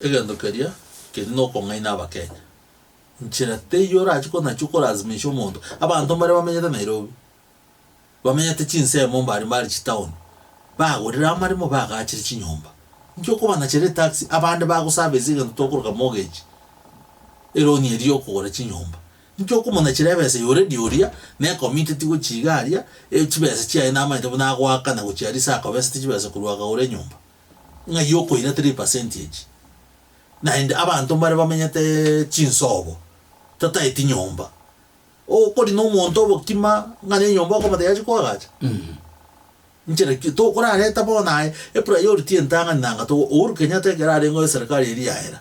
Egento keria keri nokong'aina abakenya. Nchera teiyo orache ko nachio korazimisha omonto. Abanto mbaria bamenyete Nairobi, bamenyete chinsemo mbari mbari chitown, bagorire amaremo bagachire chinyomba. Inki okobanachera etaxi abande bagoservice egento tokoroka mortgage, eroni eria yokogora chinyomba. Inki okomonachera ebesa ya already oria ne committed gochia iga aria, chibesa chiaye namaete buna agoakana gochia aria ase akobesete chibesa korwa akagora enyomba. Ng'ai okoira 3 percentage? Naende abanto mbare bamenyete chinsobo, tataeti nyomba. Okori nomonto obokima ng'a nenyomba okomotebia achi koagacha? Nchera ki tokorareta bono aye epriority entang'ani nanga to Uhuru Kenyatta ekero arengeo eserikari eria yaera,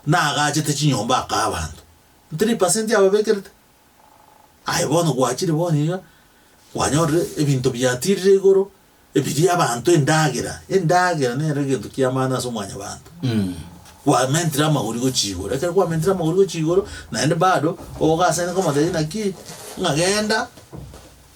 nagachete chinyomba akaa abanto. 3 percent ababekerete? Aye bono gwachire bono iga, kwanyorire ebinto biatirire igoro. Ebirie abanto endagera, endagera nero egento ki'amano ase omwanyabanto. Kwamentire amagori gochia igoro, ekero kwamentire amagori gochia igoro, naende bado ogasaineka omotebi naki, ng'a genda,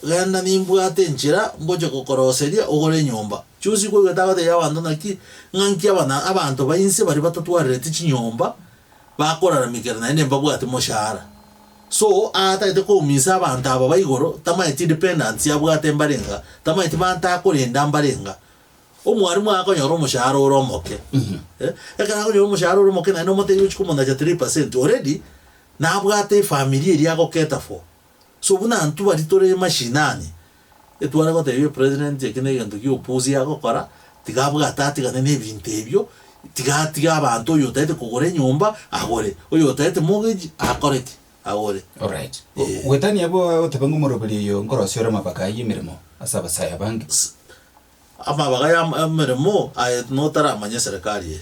genda nimbwate enchera ngochia gokoroseria ogore enyomba. Chionsi okoigwete agoteebia abanto naki, ng'a nki abana abanto bainse baria batatwarereti chinyomba, bakoraramikera naende mbabwati moshahara. So aatagete kouminsa abanto aba ba igoro, tamaeti independence abwate mbarenga, tamaeti banta akorenda mbarenga. Omwarimu akonyora omoshahara ore omoke. Ekero akonyora omoshahara ore omoke naende omotebi ochia komonacha 3% already nabwate efamiri eria ago cater for. So buna intwe baria tore mashinani, Etware gotebia president eki negento giopusi agokora tiga abwate atigane nebinto ebio tiga atige abanto oyo otagete kogora enyomba agore oyo otagete mortgage akore ki agore Alright. Go- Gwetania abwo agoteba ng'a omoroberi oyo nkorosia ore amabaka aye emeremo ase abasae abange. Amabaga ya emeremo aye notaramanya eserekari eye.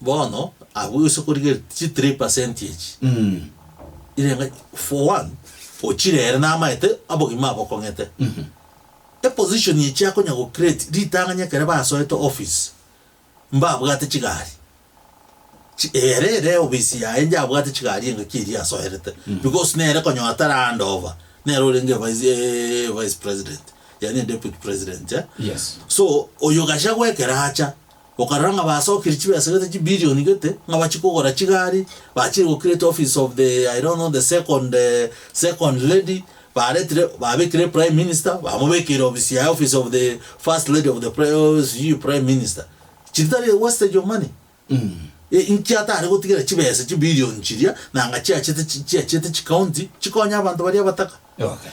Bono abwo gose korigereria chi three percent echi ire ng'a for one ochirere namaete obogima abo okong'ete eposition eye chiakonya go create ritang'ani ekero basoete office mbabwate chigari chi ere ere office yaye njabwate chigari engaki eria asoerete because nere konya otare hand over nere orenge vice vice president yaani deputy president eh Yes. so oyo Gachagua ekero acha Okarora ng'a basokirie chibesa gete chibilioni gete ng'a bachie kogora chigari, bachire go create office of the I don't know the second second lady, baretire babekire prime minister bamobekeire ofisi yaye office of the first lady of the prime sijui prime minister. Chitari wastage of money? Inki atare gotigera chibesa chibilioni chiria nanga chiachete chiachete chicounty chikonye abanto baria abataka?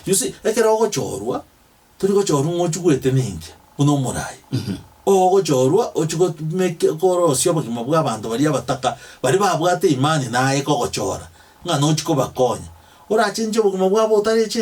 You see ekero ogochorwa tori gochorwa ng'a ochie gwetenenkea buna omorai, ogochorwa ochie gotmeke korosia obogima bw'abanto baria abataka baria babwate imani naye kogochora ng'a nochie kobakonya. Orachenche obogima bwabo otarecheni.